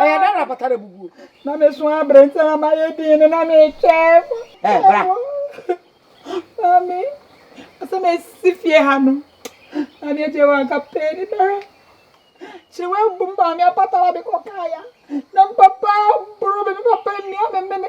Ɛyɛ dɛn na apata rebubu o? Na me so abre nti na mayɛ din no na metwɛn mo. Ɛ bra. Maame, asɛ mesi fie ha no. Na ne agye wanka pɛn ni bɛhwɛ. Kyerɛ wabum maame apata na mekɔ kaaya. Na papa boro me, me papa nnua me mene.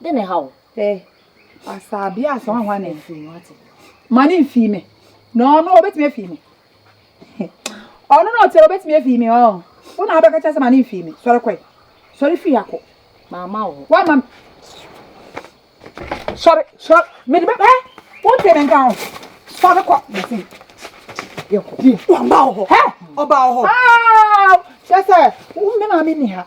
de ne haw. Ɛ asaabi a sɔn hwa ne firi wate ma ne mfii me na ɔno ɔbɛtumi afii me ɔno na ɔte ɔbɛtumi afii me ɔn wo na abɛka kyɛ sɛ ma ne mfii me sɔre kɔe sɔre firi akɔ maama wo wama sɔre sɔre mede bɛpɛ wote me nka ho sɔre kɔ mese yɛkɔpie ɔba wo hɔ ɔba wo hɔ kyɛ sɛ wo me maame ni ha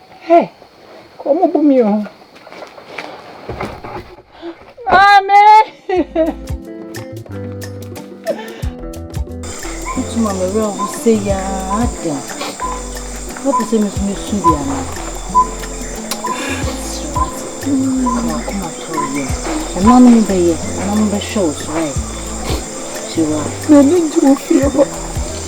Hey! Wɔn bu mi o. Maame! Wotu ma me werɛ ho sɛ yaa dɛn? Wopɛ sɛ me so me su bi anaa? Srɛwate, akoma tɔɔ yɛ. Ɛnanom bɛyɛ, ɛnanom bɛhwɛ wo so, right? Srɛwate. M'ani gye wo fie hɔ.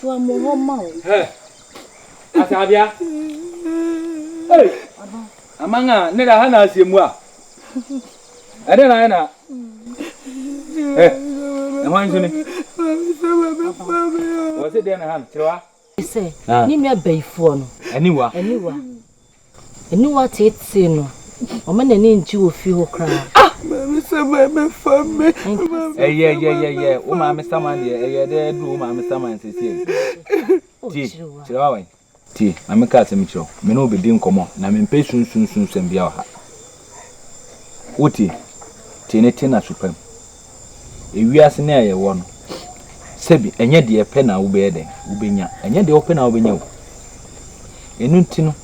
Tua mo hɔ ma o. Hɛ! Asaabea! Ei! Aman a ne da ha na asie mu a. Ɛdɛn na ayɛ na Hɛ! Ɛhwan nso ni? Wɔse dɛn na ha no? Kyerɛ wa. Sɛ ne nua bayifoɔ no. Aniwa. Aniwa. Aniwa teetee no, ɔma n'ani ngye wɔ fie hɔ koraa. Ah! Maame Saman bɛfa me. Ɛyɛ yɛ yɛ yɛ, wo maame Saman deɛ ɛyɛ dɛ aduru wo maame Saman sesie. Tie, kyerɛ wa wɛn. Tie, ma me ka asɛm kyerɛ wo, me ne wo bɛdi nkɔmmɔ na me mpɛ sunsunsum sɛm biara wɔ ha. Wo tie, tie ne te na su pam. Ewiase nnɛ a yɛwɔ no, sɛbi ɛnyɛ deɛ ɛpɛ na wobɛyɛ dɛn, wobɛnya. Ɛnyɛ deɛ wopɛ na wobɛnya o. Ɛno nti no,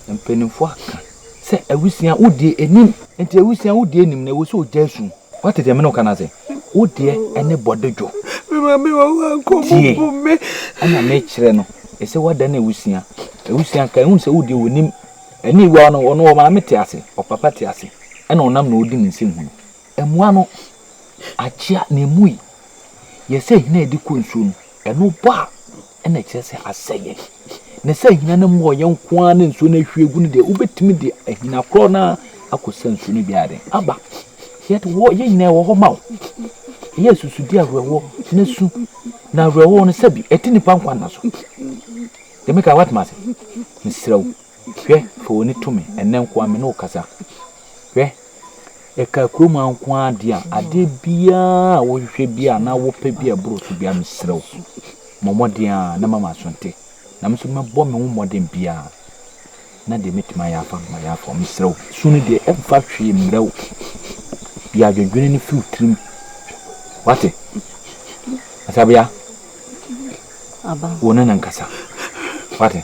mpanimfoɔ aka sɛ awusia wodie ɛnim. Nti awusia wodie ɛnim no, ɛwɔ sɛ ɔgyae su. Woate deɛ me ne wo ka no ase? Wo deɛ ne bɔdodwo. Me maame wɔ hɔ anka ɔmobu me. Tie, ɛna mekyerɛ no, ɛsɛ woadane awusia. Awusia nka ɛhu sɛ wodie wɔnim. Ɛne wɔ no, ɔno ɔmaame te ase, ɔpapa te ase, ɛna ɔnam na ɔdi ne nsɛm hunu. Mmoa no akyea na emu yi yɛ sɛ hina a ɛde kɔ nsuo no, ɛno bɔ a ɛna ɛkyerɛ sɛ asɛeɛ. Na sɛ hina no mu ɔyɛ nko ara na nsuo no ahwie agu no deɛ, wobɛtumi de ahina korɔ no ara akɔsa nsuo no biara den. Aba, yɛde wɔ yɛn nyinaa wɔ hɔ ma wo. Ɛyɛ asusudeɛ awerɛhoɔ na su na awerɛhoɔ no sɛbi ɛte nipa nkwa nna so. Yɛmɛka watoma ase. Mesrɛ wo, Hwɛ, fa w'ani to me, ɛnnɛ nko ara me ne wo kasa. Hwɛ, ɛkaa kurom ha nko ara deɛ a, adeɛ biara a wohwehwɛ bi a na wopɛ bi a ɛboro so biara, mesrɛ wo, mmɔ mmɔden ara na ma m'aso nte. Na me nso mɛbɔ me ho mmɔden biara na deɛ mɛtumi ayɛ afa no mayɛ afa wo. Mesrɛ wo, su no deɛ ɛmfa hwee mmerɛ wo. Yi adwendwene no firi wo tirim. Wate? Asabea, wo ne no nkasa. Wate?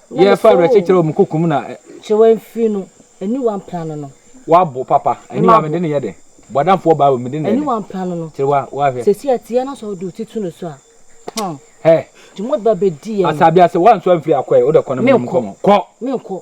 Yɛ fa w'akyi kyerɛ wɔn kokum na. Kyerɛ wɔn mfiri no, ɛni wɔn apra no no. W'abo papa, ɛni wɔn mede ne yɛ dɛ. Bɔdamfoɔ baa wɔ mede ne yɛ dɛ. Ɛni wɔn apra no no. Kyerɛ wɔn wɔn ahwɛ. Sɛsi a tia na sɔ ɔde ɔti tu no so a, hɔn. Hɛ. Nti wɔn de ba bɛ di yɛn. Asabi ase wɔn nso amfiri akɔ ɛ, wode kɔ na mene mu kɔ mo. Kɔ. Mene kɔ.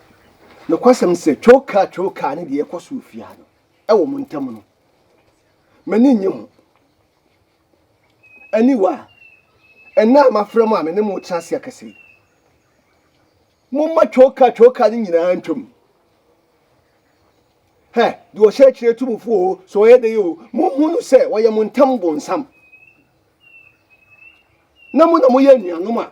Nokwasɛm ne sɛ, twowkaa twowkaa ne deɛ ɛkɔ so wɔ fie ha no, ɛwɔ mo ntam no, m'ani nnye ho. Aniwa, ɛnnɛ a mafrɛ mo a me ne mo retena ase akasa yi, momma twowkaa twowkaa no nyinaa ntwam. Hɛ, deɛ ɔhyɛ akyire tu mo fo o, sɛ ɔyɛ dɛ o, mohu no sɛ ɔyɛ mo ntam bonsam. Na mo na moyɛ anuanom a.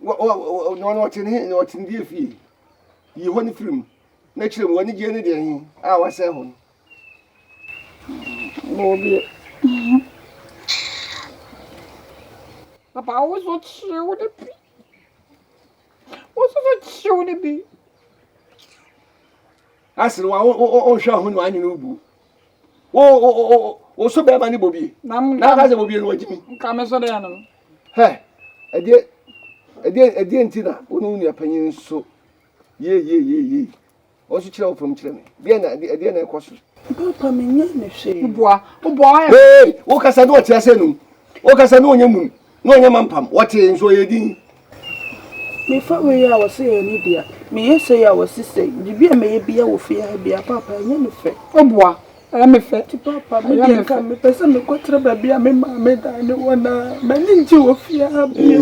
na ɔno ɔte ne he na ɔte ne deɛ fie yi hɔ ne firi mu na kyerɛ mu w'anigyeɛ ne deɛ he a wasɛe hɔ no bɔɔbi papa wo so kyew ne bi wo so so kyew ne bi Asere wa wo wo wo hwɛ ho no anyi no bu. Wo wo wo wo so bɛma ne bobie. Na mo na ka sɛ bobie no wagyi mi. Nka me so dɛ no. Hɛ. Ɛdeɛ ɛdeɛ ɛdeɛ nti na wo ne wo nua panyin so ye ye ye ye. Wɔn so kyerɛ wo fam kyerɛ me. Deɛ na ɛdeɛ na ɛkɔ so. Papa me nya ne hwee. Wo boa wo boa ɔyɛ. Hey wo kasa ne ɔte ase num. Wo kasa ne ɔnyɛ mum. Na ɔnyɛ mampam, wɔtee nso ɔyɛ din. Mefa wei a wɔse ɛyɛ ne dea, meyɛ sei a wɔse sei, biribi a mɛyɛ biara wɔ fie ha biara, paapa ɛnyɛ me fɛ. O boa, ɛyɛ me fɛ. Nti paapa, me deɛ nka mepɛ sɛ mekɔtra baabi a me maame dan ne wɔn a m'ani ngye wɔ fie ha bio.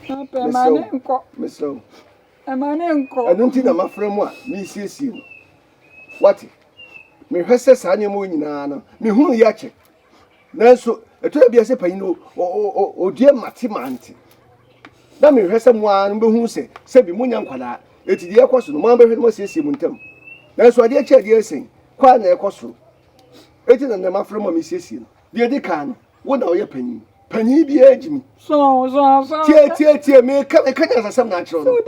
Paapa, ɛmaa ne nkɔ. Mesrɛ wo. Ɛmaa ne nkɔ. Ɛno nti na mafrɛ mo a meresiesie mo. Wate? Mehwɛ sɛ saa nneɛma nyinaa no, mehunu yɛ kyɛ. Nanso ɛtɔ da bi a sɛ panyin no odua mate mante na mehwɛ sɛ mo ara no bɛhu sɛ sɛbi monya nkwadaa ɛti deɛ ɛkɔ so no mo ara bɛhwɛ no moasiesie mo ntam nanso adeɛ kyɛ adeɛ sɛn kɔ a na ɛkɔ soro ɛti na nnɛ mafrɛ mo a mesiesie no deɛ ɛdi kan no wo na ɔyɛ panyin panyin biara gyi mu tie tie tie meka meka nyansasɛm na akyerɛ no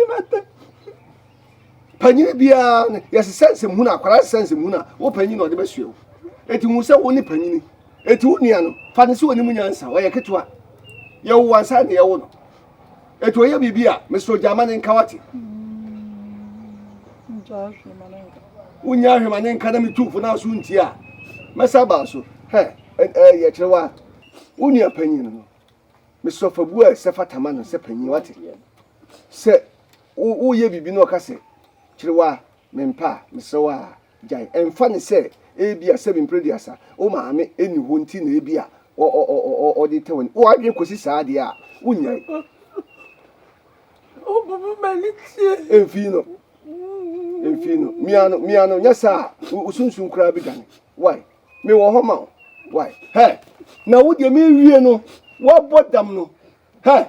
Panyin biara no, yɛsesa nsɛmhunu a, akwadaa sesa nsɛmhunu a, wo panyin na ɔde bɛsoɛ wo. Eti hu sɛ wo ne panyin. Eti wo nua no, fa no sɛ ɔni mu nyansa, ɔyɛ ketewa. Yɛwo wo ansa na yɛwo no. Eti ɔyɛ biribi a, mesrɛ ogyaa ma ne nka wate. Wonya ahwɛ ma ne nka na metu fo na so nti a, mɛsa baa so. Hɛ, yɛ kyerɛ wa, wo nua panyin no, mesrɛ fa bu a ɛsɛ fata ma no sɛ panyin wate. Sɛ Wo woyɛ biribi na ɔka sɛ, Kyere wo a, mempɛ a, mesrɛ wo a, gyae. Ɛmfa ne sɛ ebia sɛbi mpere aduasa wo maame nni hɔ nti na ebia ɔde retɛ w'ani. Wo adwene kɔsi saa deɛ a, wonyae. Ɛmfii no. Ɛmfii no. Mia no, mia no, nyɛ saa a, wo sunsum koraa bɛdwane. Wai, mewɔ hɔ ma wo. Wai, hɛ, na wo deɛ mewie no, woabɔ dam no, hɛ.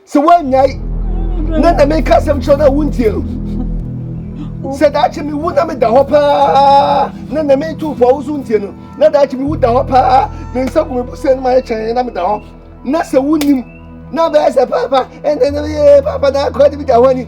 sɛ woannyae na na meka asɛm kyerɛ no a wontie no sɛ daakye mewu na meda hɔ paa na na metu fo a wo so ntie no na daakye mewu da hɔ paa me nsa gu me bo sɛ no mayɛ kyɛn na meda hɔ na sɛ wonim na bɛyɛ sɛ paapa ɛnɛ na meyɛ paapa na akora de bi da hɔ ani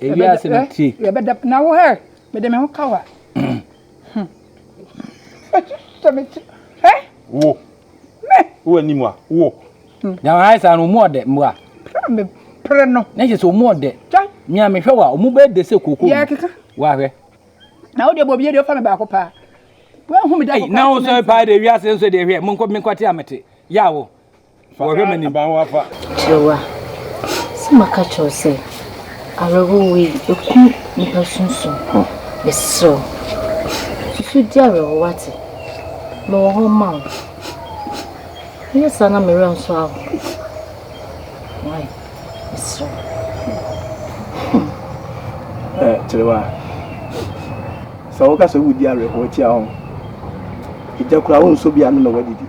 Ewia ase no ti. Yɛ bɛ da na wo hɛ me de me ho kawa. Sɛ me ti hɛ. Wo. Me. Wo ani mu a wo. Na wa haisa no mu ɔdɛ mu a. Me pere no. Na yɛ sɛ mu ɔdɛ. Mia me hwɛ wa ɔmu bɛ de sɛ koko. Yɛ keka. Wa hwɛ. Na wo de bɔ bie de fa me baako pa. Wo hu me da ko. Na wo sɛ pa de wi ase nso de hwɛ. Mo nkɔ me nkɔ te amete. Ya wo. Wɔhwɛ ma ne ban wafa. Kyerɛwa, sɛ maka kyerɛw sɛ, awerɛhow wei, eku nnipa sunsum. Mesrɛ wo, susu di awerɛhow wate? Mewɔ hɔ ma wo. Woyɛ saa na me werɛ nso ahow. Why? Mesrɛ wo. Eh, Kyerɛwa, sɛ woka sɛ wudi awerɛhow tia ho, egya kura wo nso bia no na wadidi.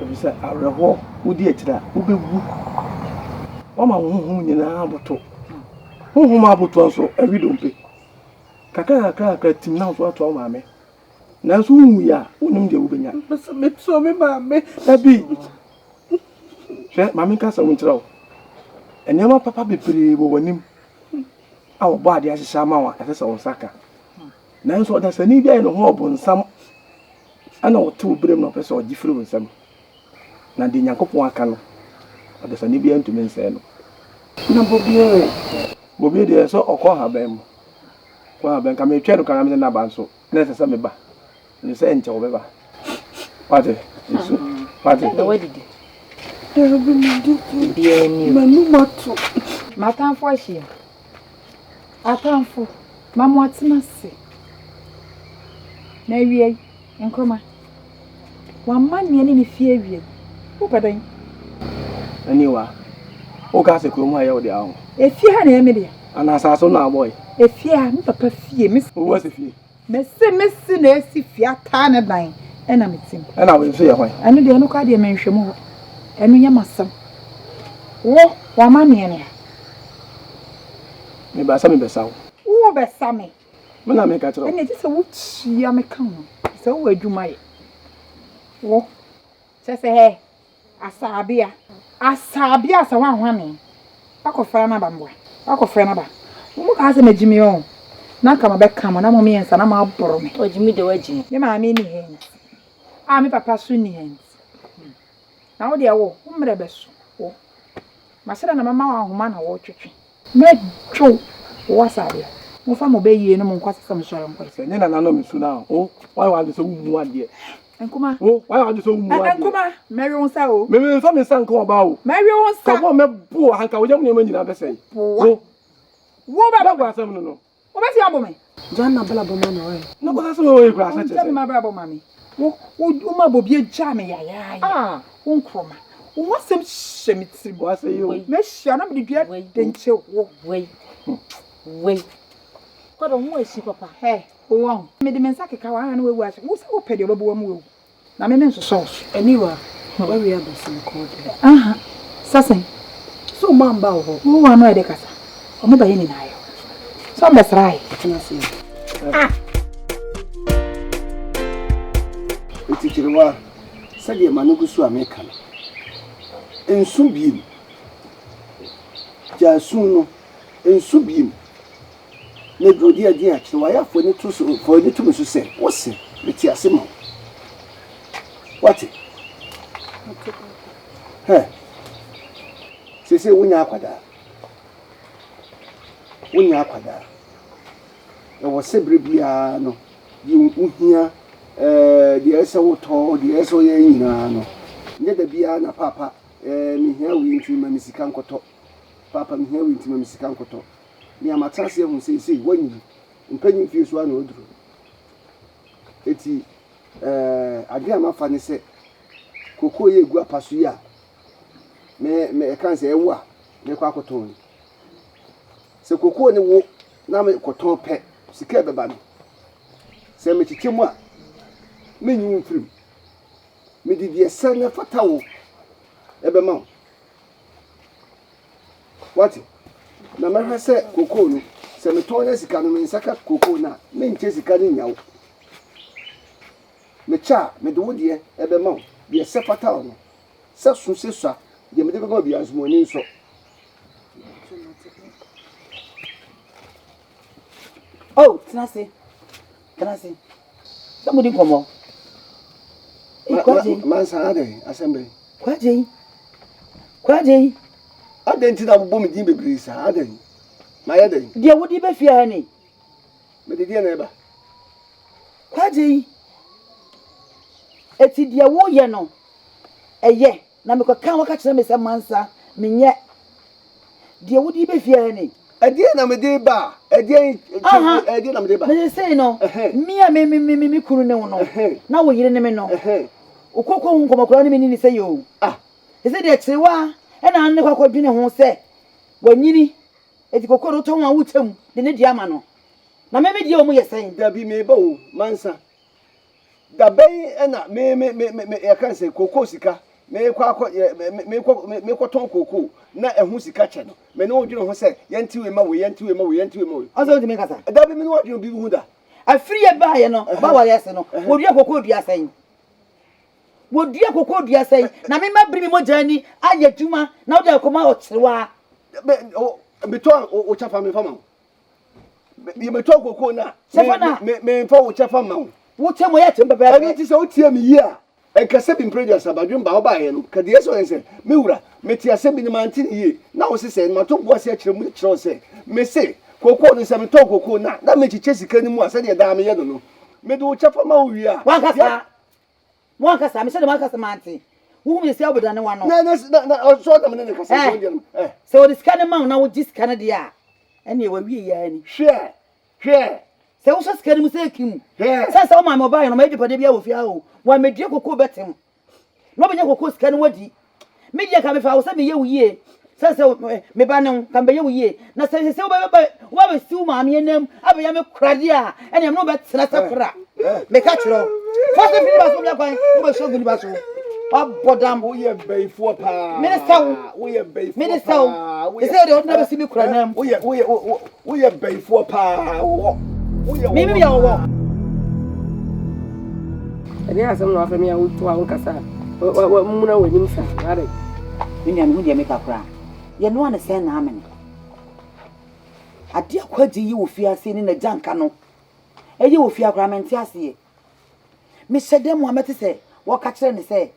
Efisɛ awerɛhoɔ, wodi akyire a, wobɛwu. Woama wo honhom nyinaa aboto. Honhom a abotoɔ nso, awi dompe. Kakra kakra kakra tim na wo nso atoa wo maame. Nanso wonwui a, wonim deɛ wobɛnya. Mepɛ sɛ mesɔ me maame. Dabi. Hwɛ, ma menka asɛm nkyerɛ wo. Nneɛma papa bebree wɔ w'anim a wɔbɔ adeɛ ahyehyɛ ama wo a, ɛsɛ sɛ wo nsa ka. Nanso ɔdasani bi ayɛ ne ho ɔbonsam na ɔte wo berem na ɔpɛ sɛ ɔgye firi wo nsam. Na deɛ Nyankopɔn aka no, ɔdasani biara ntumi nsɛe no. Na bobie we, bobie deɛ ɛsɛ sɛ ɔkɔ haban mu, kɔ haban, nka metwɛn no koraa na mede no aba nso, na ɛsɛ sɛ meba. Nim sɛ nkyɛ wɔbɛba. Wate? Nsu. Wate? Na wadidi. Dabi medi di. Biara ni. M'anum ato. M'atamfo ahyia. Atamfo, ma mo atena ase. Na awie yi, nkɔma. Wamma nea ne ne fie awie yi. Wopɛ dɛn? Aniwa. Woka sɛ kurom ha yɛ wo de aho. Efie ha na ɛyɛ me deɛ. Ana asase na abɔ yi. Efie ha, me papa fie. Wowɔ sɛ fie. Mese mesi na esi fie ataa ne dan ɛna me tim. Ɛna wei nso yɛ hwan? Ɛno deɛ ɛno koraa deɛ menhwɛ mu hɔ. Ɛno yɛ m'asɛm. Wo w'amanneɛ ne a. Mebaa sɛ mebɛsa wo. Wobɛsa me. Me na meka kyerɛ wo. Ɛnna gye sɛ wotua me ka ho. Sɛ wowɔ adwuma yɛ. Wo kyɛ sɛ hɛ Asaabea, Asaabea asa hɔ ahwane, wakɔ fra n'aba mboa, wakɔ fra n'aba, mo mo kaa sɛ ma gyi me ɔɔ, na nka ma bɛ ka mo na mo mmiɛnsa na mo aboro me. Ɔgyi me de wagyi me. Me maame nni ha nti, a me papa so nni ha nti, na wo deɛ wo, wo mmerɛ bɛ so wo, ma sɛ dɛ na ma ma wo ahoma na wo twetwe. Mɛ dwo wo asa adeɛ. Mo fa mo bɛ yie no mo nkɔ asesɛ mo sɔre nkɔ. Sɛ nye nana no me su no a oh why wa dwe sɛ wo mu adeɛ. Nkuma oh why wa dwe sɛ wo mu adeɛ. Nkuma mɛ we wo nsa oh. Mɛ me nfa me nsa nka ɔbaa oh. Mɛ we wo nsa. Ka wo a mɛ bo wo ha nka wo yam nneɛma nyinaa bɛ sɛe. Wo boa. Wo bɛ. Bɛ bɔ asɛm no no. Wobɛtumi abo me? Gyaa m'abrabɔ ma me ɔe. Na kɔsa sɛ ɔe kura sɛ te sɛ. Ɔnkyɛ me m'abrabɔ ma me. Wo, wo, wo ma bɔ bi agyaa me yayaaye. Ah! Wo nkorɔma. Wo ho asɛm hyɛ me tiri mu. Wase yo. M'ahyia na mede dua denkye wo. Wei, wei. Kɔdɔ ho ahyi papa. Hɛ, wo wɔn. Mede me nsa keka wo, ah, na wawu ahye. Wo sɛ wopɛ deɛ ɔbɛbɔ w'amu awu. Na me me nsosɔ wo so. Aniwa, w'awia aba so mekɔɔ dɛ. Aha, sa sɛn? Sɛ ɔmo amba wo hɔ. Wo wɔ ano a ɛde kasa. Ɔmo ba yɛ nyinaa yɛ. Sɛ ɔmo bɛ sra yɛ. Tena ase yɛ. Ah! Etikyerewaa, sɛdeɛ ma no gu so a meka no. Nsu biem. Gyaa su no. Nsu biem. na duru de adi akyere. Wayɛ afɔni to so, fa w'ani to me so sɛ, wose, Mete ase ma wo. Wate? Hɛ! Sese wonya akwadaa. Wonya akwadaa. Ɛwɔ sɛ bere biara no, deɛ wohia, eh, deɛ ɛyɛ sɛ wotɔ, deɛ ɛyɛ sɛ woyɛ nyinaa no, nyɛ da biara na paapa, eh, mehia wei nti ma me sika nkɔtɔ. Paapa, mehia wei nti ma me sika nkɔtɔ. nea mate ase ahu seesei, woanyin. Mpanyin mfe so ara na woaduru. Enti, eh, adwene a mafa ne sɛ, kookoo yi a egu apa so yi a me, me, ɛka sɛ ɛwo a mekɔ akɔtɔn yi, sɛ kookoo ne wo na mekɔtɔn pɛ, sika a ɛbɛba no, sɛ mekyekyɛ mu a, menyi wo mfirim. Mede deɛ ɛsɛ na ɛfata wo bɛma wo. Woate? Na mɛhwɛ sɛ kokoo no, sɛ metɔn nya sika no, me nsa ka kokoo no a, menkyɛ sika no nnya wo. Mekyɛ a, mede wo deɛ bɛma wo, deɛ ɛsɛ fata wo no. Sɛ so sɛ sua, deɛ mede bɛma wo biara nso, ma w'ani nsɔ. Oh, tena ase. Tena ase na modi nkɔmmɔ. Ei, Kwadjei. Ma, ma, mansa adɛn? Asɛm bɛn? Kwadjei. Kwadjei. Adɛn nti na wobɔ me din bebree saa? Adɛn? Mayɛ dɛn? Deɛ wode ba fie ha ni. Mede deɛ na ɛba. Kwadjei. Eti deɛ woyɛ no, ɛyɛ. Na mekɔka a wɔka kyerɛɛ me sɛ mansa menyɛ deɛ wode reba fie ha ni. Ɛdeɛn na mede reba? Ɛdeɛn nti? Ɛdeɛn na mede reba? Na seesei no, me a me me kunu ne wo no, na wo yere ne me no, wokɔkɔ ho nkɔmmɔ koraa ne me ne ne sɛ yoo. Seesei deɛ kyerewa na ano ne kɔ akɔdwene ho sɛ wanyini, enti kɔkɔ no wotɔ ho a wokyɛ mu de ne deɛ ama no. Na me me deɛ wɔn yɛ sɛn? Dabi, mereba o, mansa. Da bɛn na me me me me me yɛka sɛ kookoo sika meekɔ akɔ yɛ me me meekɔ me meekɔtɔn kookoo na ɛho sika kyɛ no me ne wo dwene ho sɛ yɛnte wei ma wei yɛnte wei ma wei yɛnte wei ma wei. Ɔsɛ ntumi kasa. Da bi me ne w'adwene bi ho da. Afiri yɛ baayɛ no ɔba ware ase no wɔdua kookoo dua sɛn? Wɔdua kookoo dua sɛn? Na me ma biri me mogya ani ayɛ adwuma na wode akɔma ɔkyerewaa. Bɛ o metɔ o o kyapa me nfa ma wo. yɛbɛtɔ koko no a memfa wo kyɛfa ma wo wote mo yɛ tem pɛpɛɛpɛ ɛno nti sɛ wotie me yie a ɛnkasɛ bi mprɛ duasa badwem ba wobaeɛ no ka deɛ sɛ ɔyɛ sɛ me wura mete asɛm bi no mante ne yie na wo se sɛ mato boa se akyerɛ mu kyerɛ sɛ me se kokoo no sɛ metɔn kokoo no a na mekyekyɛ sika no mu a sɛdeɛ daa meyɛ no no mede wo kyɛfa ma wo wie a wankasa Mo ankasa, mehyɛ dɛ mo ankasa mante. Wohu me sɛ wobɛdane w'ano. Na, na, na, na ɔsɔ nam ne ne kasa nso deɛ no. Eh. Sɛ wɔde sika no ma wo na wogye sika no deɛ a, ɛnneɛ wawie yɛ ara ni. Hwɛ, hwɛ. Sɛ wohyɛ sika no mu sɛ ɛki mu. Hwɛ. Sɛ sɛ wo maame ɔbaeɛ no, ɔma agyapadeɛ biara wɔ fie ha o, wammɛdua kokoo bɛtem. Na ɔbɛnya kokoo sika no wadi. Me deɛ ka mefa wo sɛ meyɛ wo yie sɛ sɛ me ba ne wo ka mebɛyɛ wo yie na sɛ sɛ wobɛbɛ wobɛbɛsi wo maame anam abɛyɛ me koradeɛ a ɛne ɛmene wobɛtena sɛ kora meka kyerɛ wo fa sɛ firi ne ba so wobɛyɛ kwan wobɛhyɛ gu ne ba so wabɔ dam woyɛ bɛyifoɔ paa mene sɛ wo mene sɛ wo ɛsɛ deɛ wode bɛsi me kora nam woyɛ woyɛ Woyɛ bɛyifoɔ paa wɔwɔ. Woyɛ wɔwɔ. Mimi yɛ wɔwɔ. Ɛdeɛ asɛm na wafɛ me a wotu a wonkasa a wamuna w'anim sa ware. Me nua mehu deɛ meka koraa. Yɛnoa no sɛn na amene? Adeɛ a Kwagye yɛ wɔ fie ha sei ne n'agya nka no ɛyɛ wɔ fie ha koraa mente aseɛ. Mehyɛ dɛm a mɛte sɛ wɔka kyerɛ no sɛ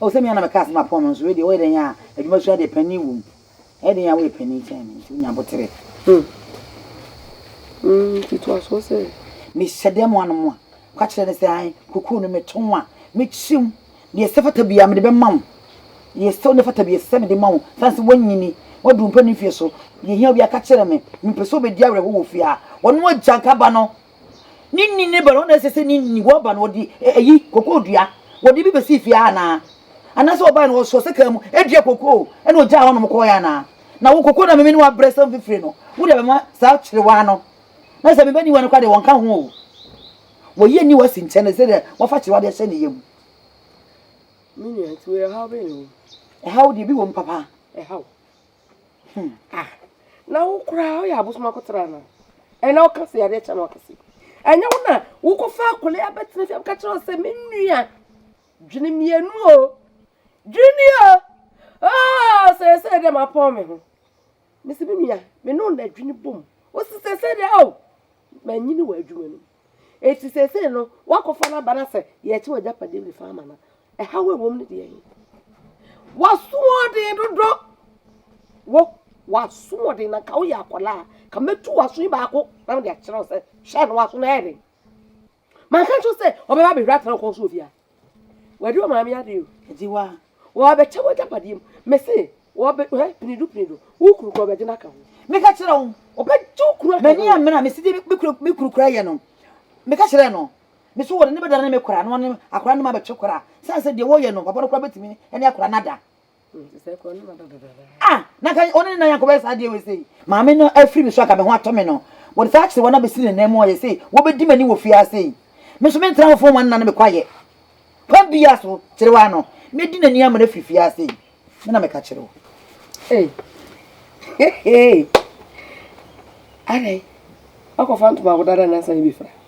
Oh, sɛ me ara na mɛka asɛm apɔn no nso, wei deɛ woyɛ dɛn a adwumasua deɛ panin wom. Ɛyɛ dɛn a woyɛ panin kyɛn me nti wonya aboterɛ. Hmm. Hmm, nti toa soɔ sɛ. Mehyɛ dɛm ano mu a, ka kyerɛ no sɛ ae, kokoo no meto ho a, mɛkyim. Deɛ ɛsɛ fata biara mede bɛma wo. Deɛ ɛsɛ wo ne fata biara ɛsɛ sɛ mede ma wo. Sane sɛ woanyini, woaduru mpanin mfeɛ so. Deɛ ɛhia wo biara ka kyerɛ me. Mempɛ sɛ wobɛdi awerɛhoɔ wɔ fie ha. Wɔne wo agya nka ba no. Ne nni ne ba no, na ɛsɛ sɛ ne nni wɔba no wɔde ayi kokoo dua wɔde bi bɛsii fie ha anaa? Anaasɛ wɔbae no wɔsɔɔ sekaa mu dua kokoo na wɔgyaa hɔnom kɔɔeɛ anaa? Na wo kokoo na meme ne wo abrɛ sɛ mfifire no, wode abɛma saa kyerewaa no? Na sɛ me ba ni wa no koraa deɛ wɔnka ho o. Wɔyi ani wa si nkyɛn sɛdeɛ wɔafa kyerewaa de ahyɛ ne yam. Me nua, nti wei ɛhaw bɛn na ɛwɔ mu? Ɛhaw deɛ ebi wɔ mu papa. Ɛhaw? Hmm ah na wo koraa woyɛ abosom akɔtena ana ɛna woka sɛ yadeɛ kyɛ na woka sɛ ɛnyɛ wo na wokɔfa akole abɛtena fie woka kyerɛ wo sɛ me nua dwene mmienu o dwene o oh sɛ sɛ dɛ mapɔn me ho mesi me nua me ne wo na adwene bom wosi sɛ sɛ dɛ o manyini wɔ adwuma no mu Enti seesei no, woakɔfa no aba no sɛ yɛrekye w'agyapadeɛ mu fa ama no. Ɛhaw a ɛwom no deɛ he? W'asoɔden dodo! Wo, w'asoɔden na nka woyɛ akwadaa a, ka mɛtu w'aso yi baako na mede akyerɛ wo sɛ hwɛ na w'aso no ayɛ den. Manka nkyerɛ sɛ ɔbɛba abɛhwɛ atena wo kɔn so wɔ fie ha? W'adi wɔ maame ade o. Ɛdi wɔ a. Wɔɔbɛkyɛ w'agyapadeɛ mu. Me se, wɔɔbɛ, hɛ, pinido pinido, wo kunu kora ɔbɛgye no aka ho. Meka kyerɛ wo. Ɔbɛgye wo kunu aka ho. M'ani ammere a mese deɛ me kunu, me kunu kora yɛ no. Meka kyerɛɛ no. Me se wɔde no bɛdane me kora na wɔne akora no ma abɛtwe kora. Sane sɛ deɛ wɔɔyɛ no, papa no kora bɛtumi ne akora no ada. ah na ka ɔne ne nan akɔbɛyɛ saa adeɛ wei sei maame no afiri me so anka me ho atɔ me no wɔde saa akyere wɔn abɛsi ne nan mu ɔyɛ sei wɔbɛdi m'ani wɔ fie ase yi me nso mentena hɔfoɔ ma nna no mekɔ ayɛ kwan bi yɛ so kyerɛ wa no mɛdi n'ani ama no afiri fie ase yi me na meka kyerɛ wo hey. hey, hey. adɛn wakɔfa ntoma agodada nansa ne bi fra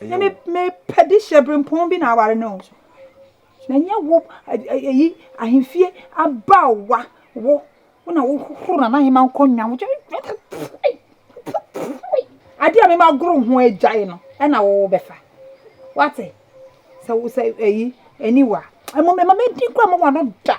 na mepɛ de hyɛ berempɔn bi na aware no o na ɛnyɛ wo ɛyi ahemfie abaawa wo wo na wohohoro na n'ahema nkonnwa wo adeɛ a mema goro ho agyae no ɛna wo bɛfa wate sɛ wo sɛ ɛyi aniwa ɛma mɛdi kora ma wano da